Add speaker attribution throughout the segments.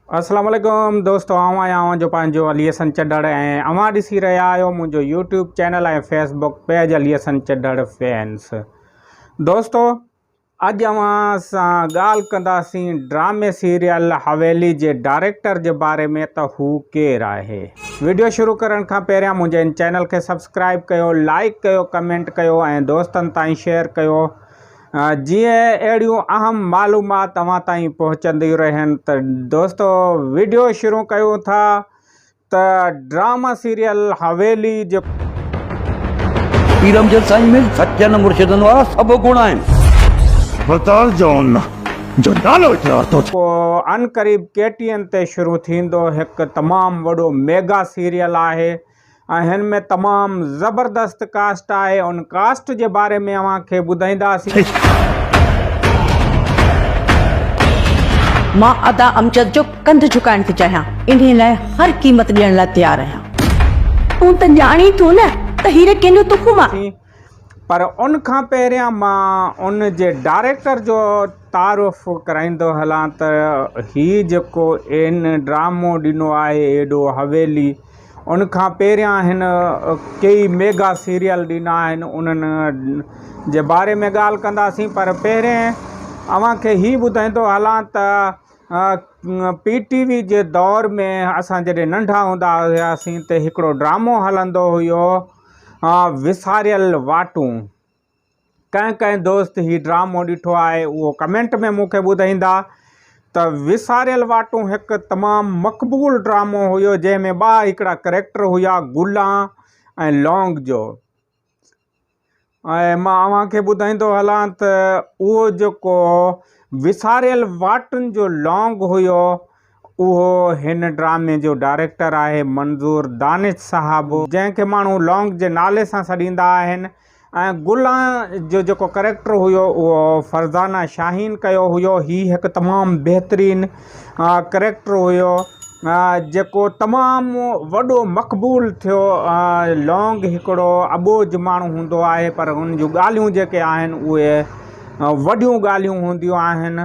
Speaker 1: السلام عليڪم دوستو آئون آهيان اوهان جو پنهنجو علي حسن چڍڙ ۽ اوهان ڏسي رهيا آهيو منهنجو YouTube channel ۽ Facebook page Ali Hassan Chadhar fans دوستو اڄ اوهان سان ڳالهه ڪنداسين ڊرامي سيريل حويلي جي ڊائريڪٽر جي باري ۾ ته هو ڪير آهي ويڊيو شروع ڪرڻ کان پهريان منهنجي ان چينل کي سبسڪرائب ڪيو لائڪ ڪيو ڪمينٽ ڪيو ۽ دوستن تائين شيئر ڪيو جيئن اهڙيون اهم معلومات توهان تائين پهچنديون رهن ته دوستو ويڊيو شروع ڪيون ٿا ته ڊرامه سيريل حويلي جو پير
Speaker 2: امجد سائين ۾ سچن مرشدن وارا سڀ گڻ آهن. ابتار
Speaker 3: جون جو نالو اقرار ٿو ٿئي. ڪو
Speaker 1: عنقريب ڪي ٽي اين تي شروع ٿيندو هڪ تمام وڏو ميگا سيريل آهي ۽ هن ۾ تمام زبردست ڪاسٽ آهي ان ڪاسٽ جي باري ۾ اوهان کي ٻڌائينداسين.
Speaker 4: مان ادا امجد جو ڪنڌ جهڪائڻ ٿي چاهيان انهي لاء هر قيمت ڏيڻ لاء تيار آهيان. تون ته ڄاڻين ٿو نه ته هيري ڪنهن جو تخم آ. پر ان
Speaker 1: کان پهريان مان ان جي ڊائريڪٽر جو تعارف ڪرائيندو هلان ته هي جيڪو ان ڊرامو ڏنو آهي ايڏو حويلي ان کان پهريان هن ڪيئي ميگا سيريل ڏنا آهن انهن جي باري ۾ ڳالهه ڪنداسين پر پهرين اوهان کي هي ٻڌائيندو هلان ته پي ٽي وي جي دور ۾ اسان جڏهن ننڍا هوندا هياسين ته هڪڙو ڊرامو هلندو هيو وساريل واٽون ڪنهن ڪنهن دوست هي ڊرامو ڏٺو آهي اهو ڪمينٽ ۾ مون کي ٻڌائيندا ته وساريل واٽون هڪ تمام مقبول ڊرامو هيو جنهن ۾ ٻا هڪڙا ڪريڪٽر هيا گولان ۽ لونگ جو ۽ مان اوهان کي ٻڌائيندو هلان ته اهو جيڪو وساريل واٽن جو لونگ هيو اهو هن ڊرامي جو ڊائريڪٽر آهي منظور دانش صاحب جنهن کي ماڻهو لونگ جي نالي سان سڏيندا آهن ۽ گل جو جيڪو ڪريڪٽر هيو اهو فرزانه شاهين ڪيو هيو هي هڪ تمام بهترين ڪريڪٽر هيو جيڪو تمام وڏو مقبول ٿيو لونگ هڪڙو اٻوجھ ماڻهو هوندو آهي پر هن جون ڳالهيون جيڪي آهن اهي وڏيون ڳالهيون هونديون آهن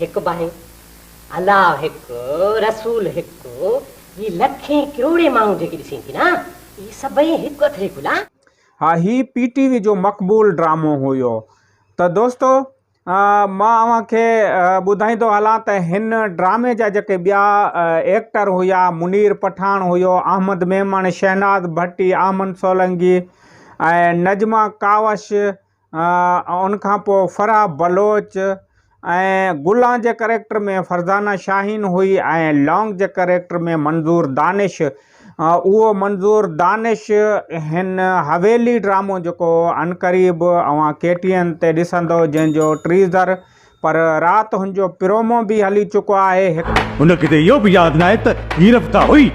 Speaker 5: هڪ باهه، الله هڪ، رسول هڪ، هي لکين ڪروڙين ماڻهو جيڪي ڏسين ٿي نه، اهي سڀئي هڪ اٿري ڦلا. ها هي
Speaker 1: پي ٽي وي جو مقبول ڊرامو هيو ته دوستو مان اوهان کي ٻڌائيندو هلان ته هن ڊرامي جا جيڪي ٻيا ايڪٽر هيا منير پٺاڻ هيو، احمد ميمڻ، شهناز ڀٽي، احمد سولنگي ۽ نجمه ڪاوش، ان کان پوء فرح بلوچ ۽ گلان جي ڪريڪٽر ۾ فرزانه شاهين هئي ۽ لونگ جي ڪريڪٽر ۾ منظور دانش اهو منظور دانش هن حويلي ڊرامو جيڪو عنقريب اوهان ڪي ٽي اين تي ڏسندو جنهنجو ٽريزر پر رات هن جو پرومو به هلي چڪو آهي هڪ. هن کي ته اهو به
Speaker 3: ياد ناهي ته هي رفتا هئي.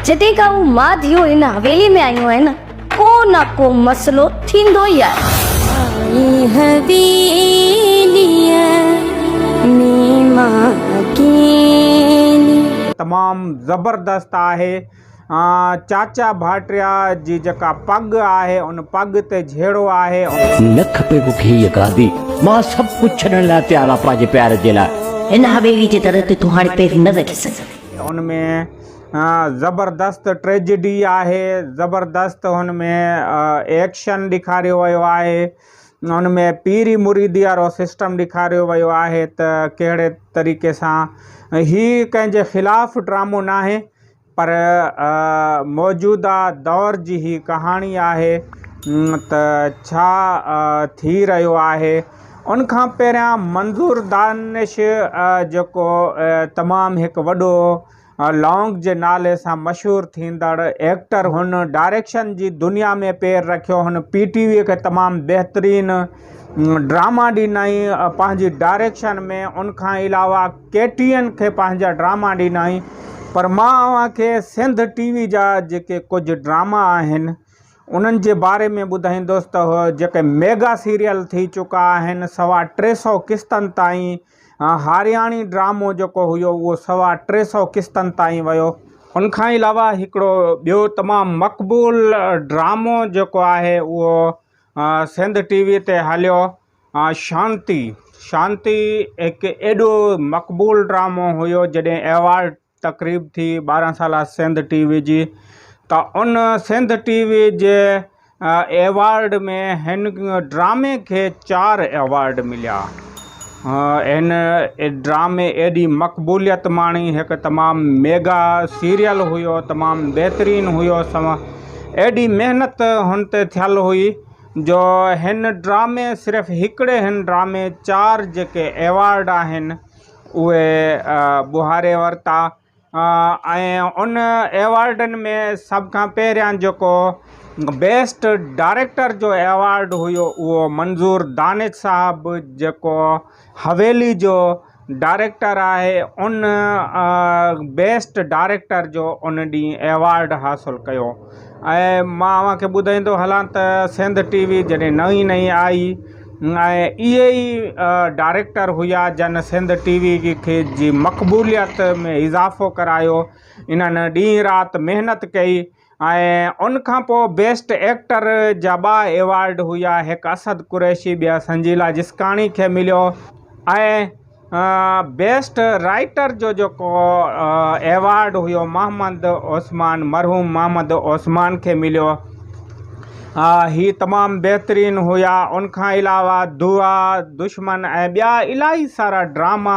Speaker 4: جڏهن کان هو ماڌيون هن حويلي ۾ آيون آهن ڪو نه ڪو مسئلو ٿيندو ئي آهي. آئين حويليء ۾
Speaker 1: مان اڪيلي. تمام زبردست آهي. چاچا ڀاٽيا جي جيڪا پڳ آهي ان پڳ تي جهيڙو آهي. لک پئي مون
Speaker 2: کي هيء گادي. مان سڀ ڪجهه ڇڏڻ لاء تيار آهيان پنهنجي پيار جي لاء. هن حويلي جي در
Speaker 4: تي تون هاڻي پير نه رکي سگهندين. ان ۾
Speaker 1: زبردست ٽريجڊي آهي، زبردست هن ۾ ايڪشن ڏيکاريو ويو آهي، ان ۾ پيري مريدي وارو سسٽم ڏيکاريو ويو آهي ته ڪهڙي طريقي سان هي ڪنهن جي خلاف ڊرامو ناهي، پر موجوده دور جي هي ڪهاڻي آهي ته ڇا ٿي رهيو آهي. ان کان پهريان منظور دانش جيڪو تمام هڪ وڏو لانگ جي نالي سان مشهور ٿيندڙ ايڪٽر هن ڊائريڪشن جي دنيا ۾ پير رکيو هن پي ٽي وي کي تمام بهترين ڊراما ڏنائين پنهنجي ڊائريڪشن ۾ ان کان علاوه ڪيٽين کي پنهنجا ڊراما ڏنائين پر مان اوهان کي سنڌ ٽي وي جا جيڪي ڪجهه ڊراما آهن انهن جي باري ۾ ٻڌائيندس ته جيڪي ميگا سيريل ٿي چڪا آهن سوا ٽي سو قسطن تائين هارياڻي ڊرامو جيڪو هيو اهو سوا ٽي سو قسطن تائين ويو ان کان علاوه هڪڙو ٻيو تمام مقبول ڊرامو جيڪو آهي اهو سنڌ ٽي وي تي هليو ها شانتي، شانتي هڪ ايڏو مقبول ڊرامو هيو جڏهن ايوارڊ تقريب ٿي ٻارهن سالا سنڌ ٽي وي جي ته ان سنڌ ٽي وي جي ايوارڊ ۾ هن ڊرامي کي چار ايوارڊ مليا هن ڊرامي ايڏي مقبوليت ماڻي هڪ تمام ميگا سيريل هيو تمام بهترين هيو سما ايڏي محنت هن تي ٿيل هئي جو هن ڊرامي صرف هڪڙي هن ڊرامي چار جيڪي ايوارڊ آهن اهي ٻهاري ورتا ۽ ان ايوارڊن ۾ سڀ کان پهريان جيڪو بيسٽ ڊائريڪٽر جو ايوارڊ هيو اهو منظور دانش صاحب جيڪو حويلي جو ڊائريڪٽر آهي ان بيسٽ ڊائريڪٽر جو ان ڏينهن ايوارڊ حاصل ڪيو ۽ مان اوهان کي ٻڌائيندو هلان ته سنڌ ٽي وي جڏهن نئين نئين آئي ۽ اهي ئي ڊائريڪٽر هيا جن سنڌ ٽي وي کي جي مقبوليت ۾ اضافو ڪرايو انهن ڏينهن رات محنت ڪئي ۽ ان کان پوء بيسٽ ايڪٽر جا ٻا ايوارڊ هيا هڪ اسد قريشي ٻيا سنجيلا جسڪاڻي کي مليو ۽ بيسٽ رائيٽر جو جيڪو ايوارڊ هيو محمد عثمان مرحوم محمد عثمان کي مليو هي تمام بهترين هيا ان کان علاوه دعا دشمن ۽ ٻيا الاهي سارا ڊراما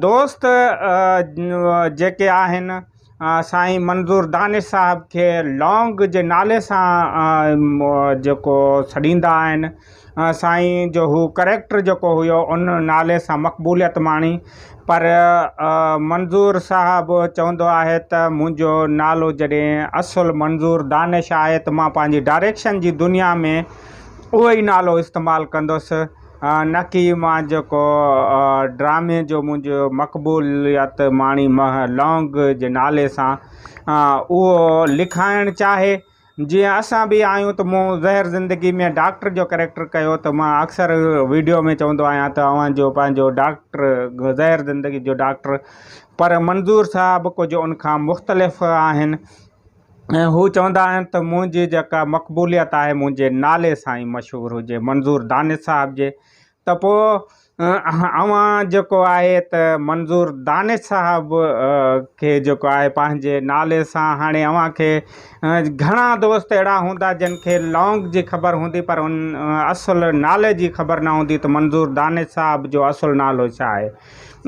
Speaker 1: دوست جيڪي آهن سائين منظور دانش صاحب کي لونگ جي نالي سان جيڪو سڏيندا آهن سائين جو هو ڪريڪٽر جيڪو هيو ان نالي سان مقبوليت ماڻي پر منظور صاحب چوندو آهي ته منهنجو نالو جڏهن اصل منظور دانش آهي ته مان پنهنجي ڊائريڪشن جي دنيا ۾ اهو ئي نالو استعمال ڪندس نڪي مان جيڪو ڊرامي جو منهنجو مقبوليت ماڻي مه لونگ جي نالي سان اهو لکائڻ چاهي جيئن اسان به آهيون ته مون زهر زندگي ۾ ڊاڪٽر جو ڪريڪٽر ڪيو ته مان اڪثر ويڊيو ۾ چوندو آهيان ته اوهان جو پنهنجو ڊاڪٽر زهر زندگي جو ڊاڪٽر پر منظور صاحب ڪجهه ان کان مختلف آهن ۽ هو چوندا آهن ته منهنجي جيڪا مقبوليت آهي منهنجي نالي سان ئي مشهور هجي منظور دانش صاحب جي ته پوء اوهان جيڪو آهي ته منظور دانش صاحب کي جيڪو آهي پنهنجي نالي سان هاڻي اوهان کي گهڻا دوست اهڙا هوندا جن کي لونگ جي خبر هوندي پر ان اصل نالي جي خبر نه هوندي ته منظور دانش صاحب جو اصل نالو ڇا آهي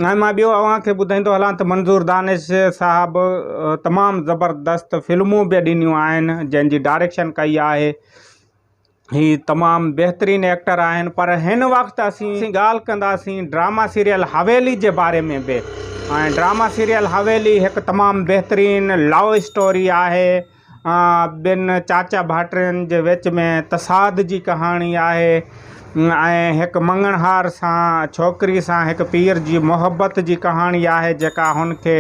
Speaker 1: ۽ مان ٻيو اوهان کي ٻڌائيندو هلان ته منظور دانش صاحب تمام زبردست فلمون به ڏنيون آهن جنهن جي ڊائريڪشن ڪئي آهي هي تمام بهترين ايڪٽر آهن پر هن وقت اسين ڳالهه ڪنداسين ڊراما سيريل حويلي جي باري ۾ به ۽ ڊراما سيريل حويلي هڪ تمام بهترين لو اسٽوري آهي ٻن چاچا ڀائٽين جي وچ ۾ تصاد جي ڪهاڻي آهي ۽ هڪ مڱڻهار سان ڇوڪري سان هڪ پير جي محبت جي ڪهاڻي آهي جيڪا هن کي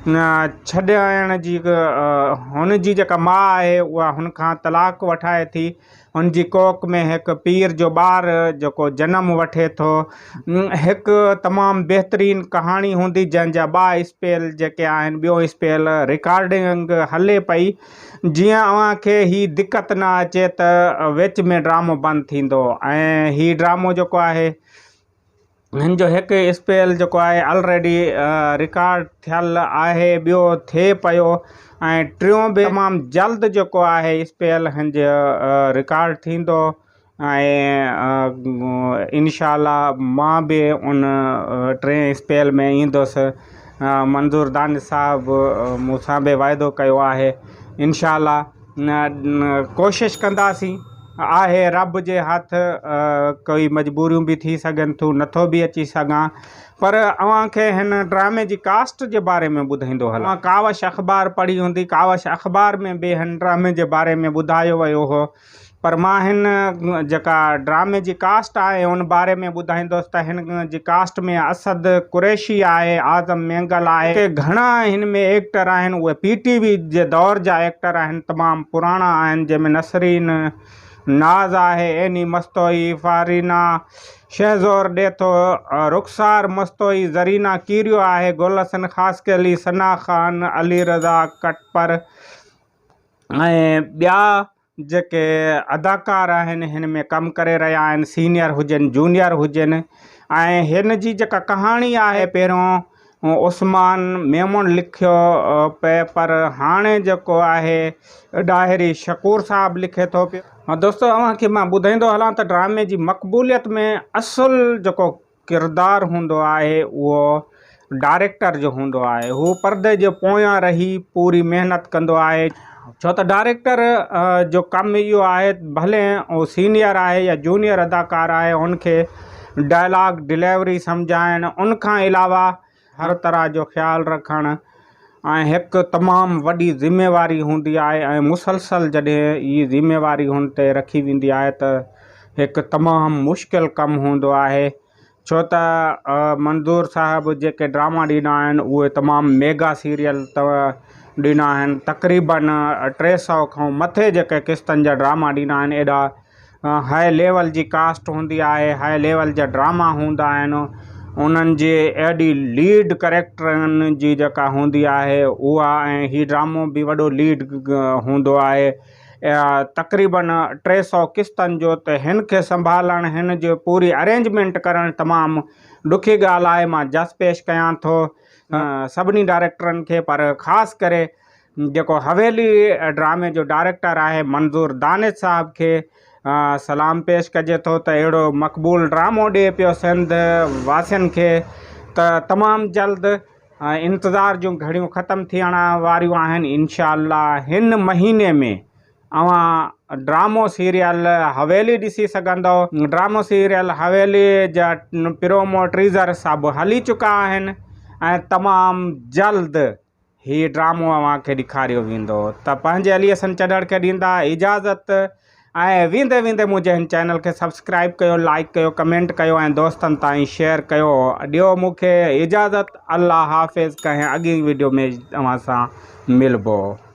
Speaker 1: ڇڏائڻ جي هن جي جيڪا ماء آهي اها هن کان طلاق وٺائي ٿي هن جي ڪوڪ ۾ هڪ پير جو ٻار جيڪو جنم وٺي ٿو هڪ تمام بهترين ڪهاڻي هوندي جنهن جا ٻا اسپيل جيڪي آهن ٻيو اسپيل رڪارڊنگ هلي پئي جيئن اوهان کي هي دقت نه اچي ته وچ ۾ ڊرامو بند ٿيندو ۽ هي ڊرامو جيڪو آهي هن جو هڪ اسپيل جيڪو آهي آلريڊي رڪارڊ ٿيل آهي ٻيو ٿئي پيو ۽ ٽيون به تمام جلد جيڪو آهي اسپيل هن جو رڪارڊ ٿيندو ۽ انشاء الله مان به ان ٽئين اسپيل ۾ ايندس منظور دانش صاحب مون سان به واعدو ڪيو آهي انشاء الله ڪوشش ڪنداسين. آهي رب جي هٿ ڪوئي مجبوريون به ٿي سگهن ٿيون نٿو به اچي سگهان پر اوهان کي هن ڊرامي جي ڪاسٽ جي باري ۾ ٻڌائيندو هلان. اوهان ڪاوش اخبار پڙهي هوندي ڪاوش اخبار ۾ به هن ڊرامي جي باري ۾ ٻڌايو ويو هو پر مان هن جيڪا ڊرامي جي ڪاسٽ آهي ان باري ۾ ٻڌائيندس ته هن جي ڪاسٽ ۾ اسد قريشي آهي اعظم مينگل آهي ڪي گهڻا هن ۾ ايڪٽر آهن اهي پي ٽي وي جي دور جا ايڪٽر آهن تمام پراڻا آهن جنهن ۾ نسرين ناز آهي ايني مستوئي فارينا شهزور ڏيٿو رخسار مستوئي زرينا ڪيريو آهي گل حسن خاصخيلي ثنا خان علي رضا ڪٽپر ۽ ٻيا جيڪي اداڪار آهن هن ۾ ڪم ڪري رهيا آهن سينيئر هجن جونيئر هجن ۽ هن جي جيڪا ڪهاڻي آهي پهريون عثمان ميمڻ لکيو پئي پر هاڻي جيڪو آهي ڏاهري شڪور صاحب لکي ٿو پيو. دوستو اوهان کي مان ٻڌائيندو هلان ته ڊرامي جي مقبوليت ۾ اصل جيڪو ڪردار هوندو آهي اهو ڊائريڪٽر جو هوندو آهي هو پردي جي پويان رهي پوري محنت ڪندو آهي ڇو ته ڊائريڪٽر جو ڪم اهو آهي ڀلي هو سينيئر آهي يا جونيئر اداڪار آهي هن کي ڊائلاگ ڊليوري سمجهائڻ ان کان علاوه هر طرح جو خيال رکڻ ۽ هڪ تمام وڏي ذميواري هوندي آهي ۽ مسلسل جڏهن هي ذميواري هن تي رکي ويندي آهي ته هڪ تمام مشڪل ڪم هوندو آهي ڇو ته منظور صاحب جيڪي ڊراما ڏيندا آهن اهي تمام ميگا سيريل ڏيندا آهن تقريبن ٽي سئو کان مٿي جيڪي قسطن جا ڊراما ڏيندا آهن ايڏا هاء ليول جي ڪاسٽ هوندي آهي، هاء ليول جا ڊراما هوندا آهن، انهن جي ايڏي ليڊ ڪريڪٽرن جي جيڪا هوندي آهي اها ۽ هي ڊرامو به وڏو ليڊ هوندو آهي. تقريباً ٽي سؤ قسطن جو ته هن کي سنڀالڻ هن جي پوري ارينجمينٽ ڪرڻ تمام ڏکي ڳالهه آهي مان جس پيش ڪيان ٿو سڀني ڊائريڪٽرن کي پر خاص ڪري جيڪو حويلي ڊرامي جو ڊائريڪٽر آهي منظور دانش صاحب کي سلام پيش ڪجي ٿو ته اهڙو مقبول ڊرامو ڏي پيو سنڌ واسين کي ته تمام جلد انتظار جون گهڙيون ختم ٿيڻ واريون آهن انشاء الله هن مهيني ۾ اوهان ڊرامو سيريل حويلي ڏسي سگهندؤ ڊرامو سيريل حويلي جا پرومو ٽيزر سڀ هلي چڪا آهن ۽ تمام جلد هي ڊرامو اوهان کي ڏيکاريو ويندو ته پنهنجي علي حسن چڏهڙ کي ڏيندا اجازت ۽ ويندي ويندي منهنجي هن چينل کي سبسڪرائب ڪيو لائڪ ڪيو ڪمينٽ ڪيو ۽ دوستن تائين شيئر ڪيو ڏيو مون کي اجازت الله حافظ ڪنهن اڳين وڊيو ۾ اوهان سان ملبو